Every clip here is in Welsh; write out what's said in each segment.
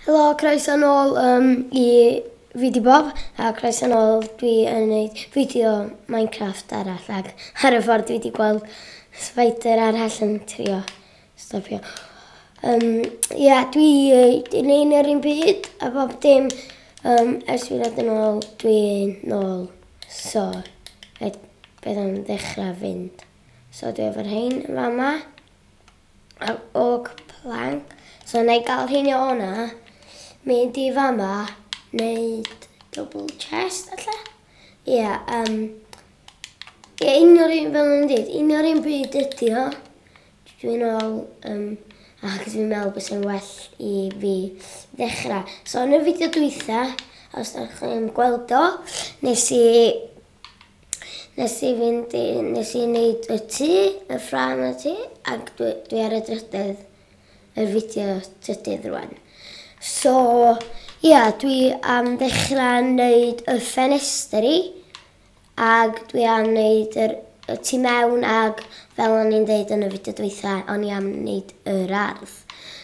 Helo, croeso nôl um, i fideo bob, a croeso nôl dwi yn gwneud fideo Minecraft arall ac ar y ffordd dwi wedi gweld spider arall yn trio stopio. Um, ia, dwi yn neud yr un byd a bob dim um, ers fi ddod yn ôl dwi'n nôl. So, beth am ddechrau fynd. So dwi efo'r rhain yn fama. Ar ôl plank, so na i gael hyn o na, mynd i fama, wneud double chest, alla? Ie, yeah, um, ie, yeah, un o'r un fel yn dweud, un o'r un bryd ydi o. Dwi'n ôl, um, ac dwi'n meddwl bod sy'n well i fi ddechrau. So, yn y fideo dwytha, os ydych chi'n gweld o, nes i Nes i fynd i... nes i neud y tŷ, y ffrâm y tŷ, ac dwi dwi ar y drydedd yr fideo trydydd rwan. So ia dwi am ddechra neud y ffenestri ag dwi am neud yr y tu mewn ag fel o'n i'n deud yn y fideo dwytha o'n i am neud yr ardd.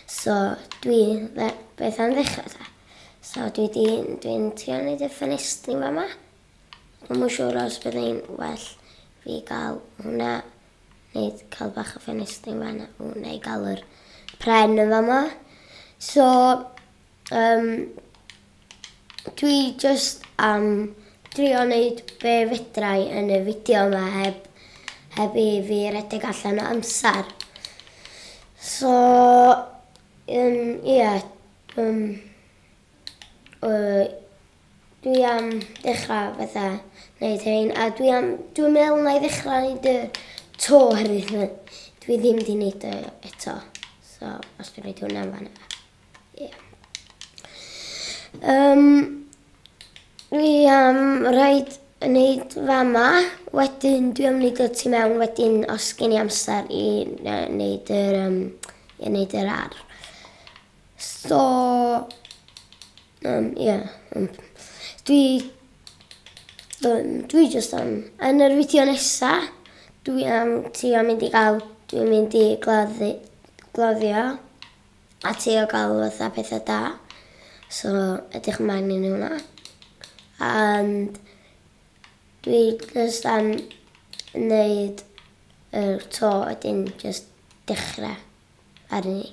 So dwi dde- beth am ddechra ta? So dwi di dwi'n trio neud y ffenestri fama. Dwi'm yn siŵr os byddai'n well fi gael hwnna neu cael bach o ffenestri yn fan'na. O, neu gael yr pren yn fama. So, um, dwi just am drio wneud be fedrai yn y fideo yma heb, heb i fi redeg allan o amser. So, um, ie, yeah, um, uh, Dwi am dechra fatha neud rhein a dwi am dwi'n meddwl na i ddechra neud y to oherwydd ma' dwi ddim di neud o eto so os dwi'n neud hwnna yn fan yna. Ie. Um, dwi am rhaid yn neud fama wedyn dwi am neud o tu mewn wedyn os gen i amser i neud yr um, i neud yr ar. So Yym ie ond dwi yym dwi jyst am... Yn yr fideo nesa dwi am trio mynd i ga'l dwi'n mynd i gladdu gladdio a trio ga'l fatha petha da so edrych ymlaen i hwnna and dwi jyst am neud yr to a 'dyn jyst dechre arni.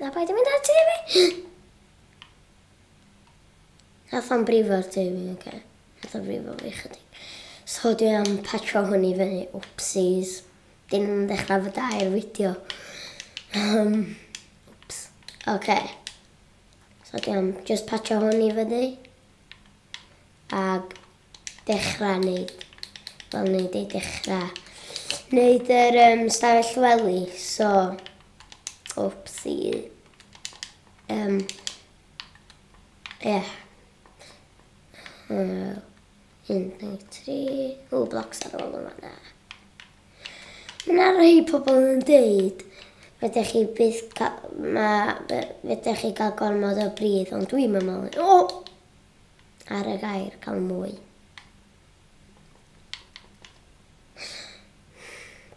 Na paid yn mynd ati i fi! Nath o'n brifo'r tŷ fi, oce. Nath o'n brifo fi chydig. So dwi am patro hwn i fyny, wpsies. Dyn nhw'n ddechrau fy dair fideo. Um, wps, oce. So dwi am just patro hwn i fyny. Ag dechrau neud, wel neud ei dechrau, neud yr um, stafell wely, so, opsi, um, yeah. Uh, 1, 2, 3, o, blocs ar ôl yma na. Mae yna rhai pobl yn dweud, fedech chi byth cael, ma, fedech chi gael gormod o bryd, ond dwi'n meddwl, o, ar y gair cael mwy.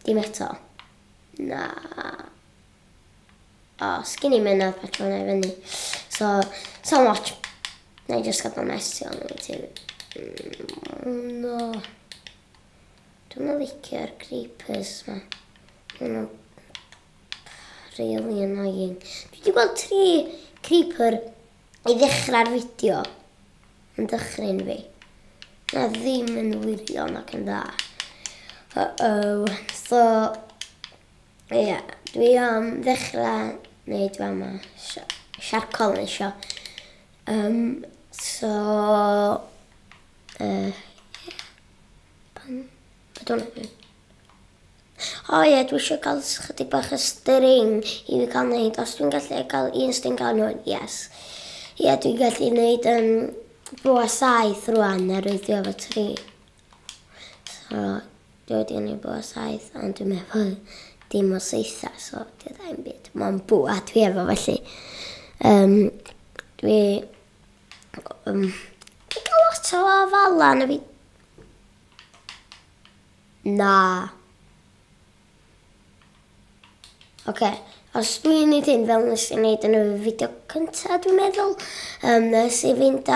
Dim eto. Na. O, sgyn i mynadd pa tro na i fyny. So, so much. Na i just gadael mesio yn y ti. Mm, no. Dwi'n mynd licio'r creepers ma. Mae'n really annoying. Dwi wedi gweld tri creeper I ddechrau'r fideo, yn dychryn fi. Na ddim yn wirion ac yn dda. Uh-oh. So, ie, yeah, dwi am ddechrau wneud fa yma. Siarcol yn eisiau. Um, so, uh, yeah. Pan, I don't know. O ie dwi isio cael chydig bach o string i fi cael neud os dwi'n gallu cael un string gan hwn yes. Ie dwi'n gallu neud yym bo a saith rwan a rwy'n dwi efo tri. So dwi wedi yn ei bo a saith ond dwi'n meddwl dim o seitha so dwi dda i'n byd. Mae'n bo a dwi efo felly. Um, dwi... Um, dwi'n cael lot o afalan a fi Na. Oce, os dwi'n neud hyn fel nes i neud yn y fideo cynta dwi'n meddwl, um, nes i fynd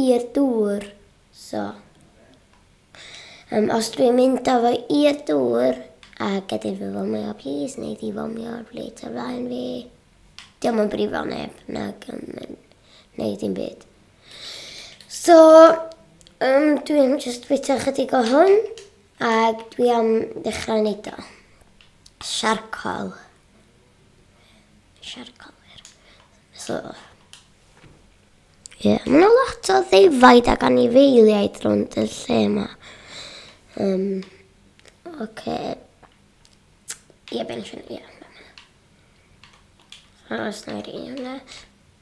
i'r dŵr, so. Um, os dwi'n mynd â fo i'r dŵr, a gadw fi fomio, please, neu di fomio ar blyd ar flaen fi. Diolch yn brifo neb, nag yn mynd, neu dim byd. So, um, dwi'n just bwyta chydig o hwn, a dwi am ddechrau wneud o. Siarcol. Siarcol, wir. So, ie, yeah. mae'n lot o ddefaid ac anifeiliaid rhwnd y lle yma. Um, Oce. Okay. Ie, yeah, bensiwn, ie. Yeah. Aros na i rhaid hwnna.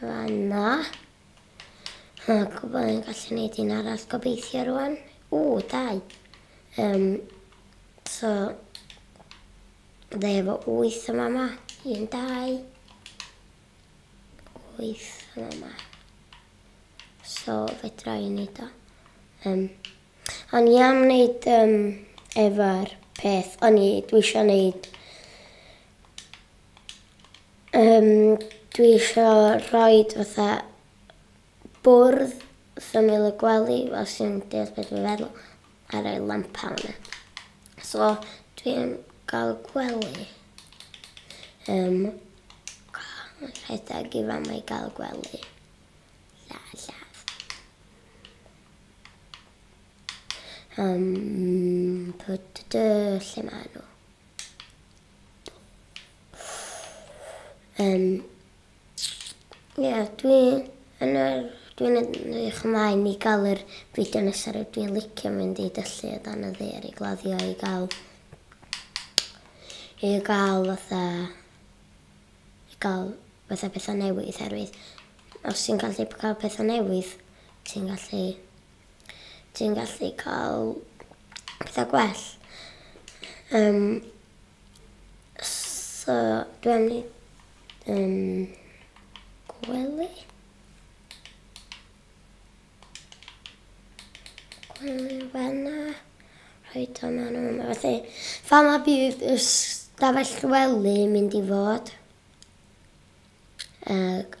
Fanna. A gwybod yn gallu gwneud un arall gobeithio rwan. O, dau. Um, so, dde efo wyth yma yma. Un, dau. Wyth yma yma. So, fedra i wneud o. Um, ond i am wneud um, efo'r peth, o'n i, dwi eisiau wneud Yym dwi isio rhoid fatha bwrdd syml y gwely fel sy'n deall beth dwi'n feddwl a rhoi lampau yna. So dwi'n gael gwely yym rhedeg i fama i gael gwely. Yym lle maen nhw? Um, Ie, dwi yn yr... Dwi'n edrych ymlaen i gael yr fideo nesaf rydw i'n licio mynd i dyllu o dan y ddeir i gladdio i gael... i gael fatha... i gael fatha pethau newydd herwydd os ti'n gallu cael pethau newydd ti'n gallu ti'n gallu cael pethau gwell. Um, so, dwi am ni um, gwely. Gwely fanna. Rhoi o maen nhw. Mae fatha, fa ma bydd y stafell wely mynd i fod. Ag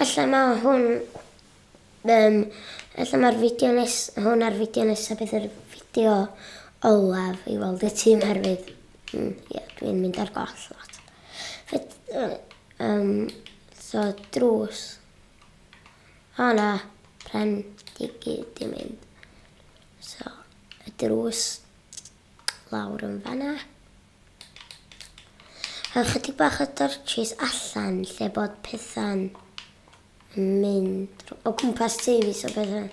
ella ma hwn um, ella mae'r fideo nes, hwn ar fideo nesaf bydd yr fideo olaf i weld y tîm herwydd mm, yeah, dwi'n mynd ar goll lot. Fed, uh, um, so drws. O na, pren digi di mynd. So, y drws lawr yn fanna. A chydig bach o dorchis allan lle bod pethau'n mynd o gwmpas tŷ fi so bydd yn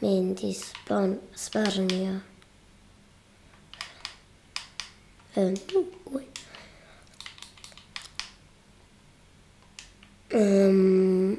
mynd i sbon, sbarnio. Um, um,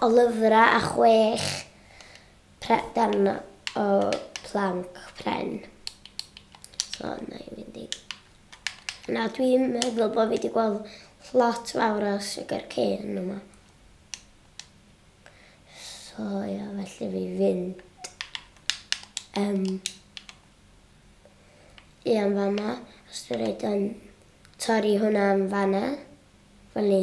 o lyfrau a chwech prep darn o planc pren. So, na i fynd i... Na, dwi'n meddwl bod fi wedi gweld lot fawr o sugar cane yma. So, ia, felly fi fynd um, i am fama. Os dwi'n rhaid yn torri hwnna am fanna, fel ni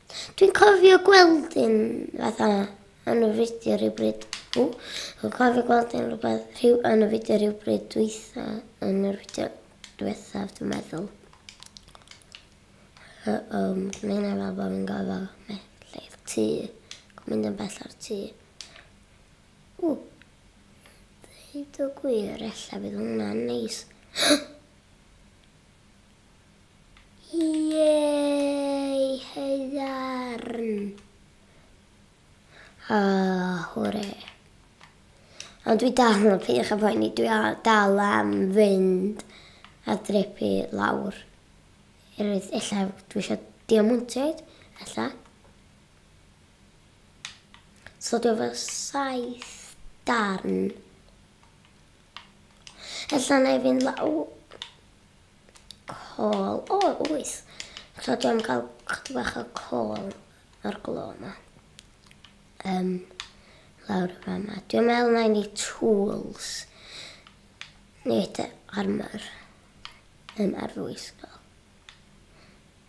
Dwi'n cofio gweld un fatha yn y fideo rhywbryd. O, dwi'n cofio gweld un rhywbeth rhyw, yn y fideo rhywbryd dwytha, yn yr fideo dwythaf, dwi'n meddwl. Uh, um, dwi'n meddwl fel bod fi'n gofio mellai'r tŷ. Dwi'n mynd yn bell ar tŷ. O, dweud o gwir, efallai bydd hwnna'n neis. Iei haearn! A hwre. Ond dwi dal yn peidiwch a phoeni, dwi dal am fynd a drepu lawr. Erwydd, ella dwi eisiau diamontiaid, ella. So dwi efo saith darn. Ella na i fynd law col. O, wyth. Tra dwi am gael chdi bach o col o'r glo yma. Um, lawr y fan yma. Dwi'n meddwl na i ni tools. Nid armor. Um, ar fwy sgol.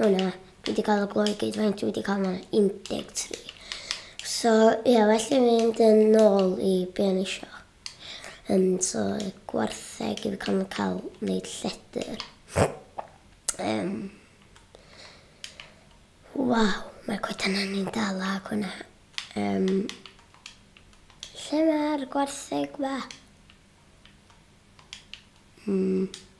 Hwna, dwi wedi cael y glo i gyd, faint dwi wedi cael yma? 13. So, ie, yeah, well i fynd yn ôl i be o'n isio. Um, so, gwartheg i fi cael yn cael wneud lledr. Um, Waw, mae'r coedan ni'n dal ag hwnna. Um, lle mae'r gwartheg ma? Mm.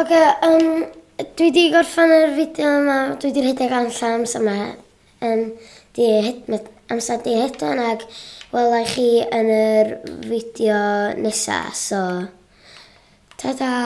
Ok yym dwi 'di gorffan yr fideo yma dwi 'di rhedeg allan amser 'ma yym 'di hed- ma' amser 'di hedfan ag wela i chi yn yr fideo nesa so tata!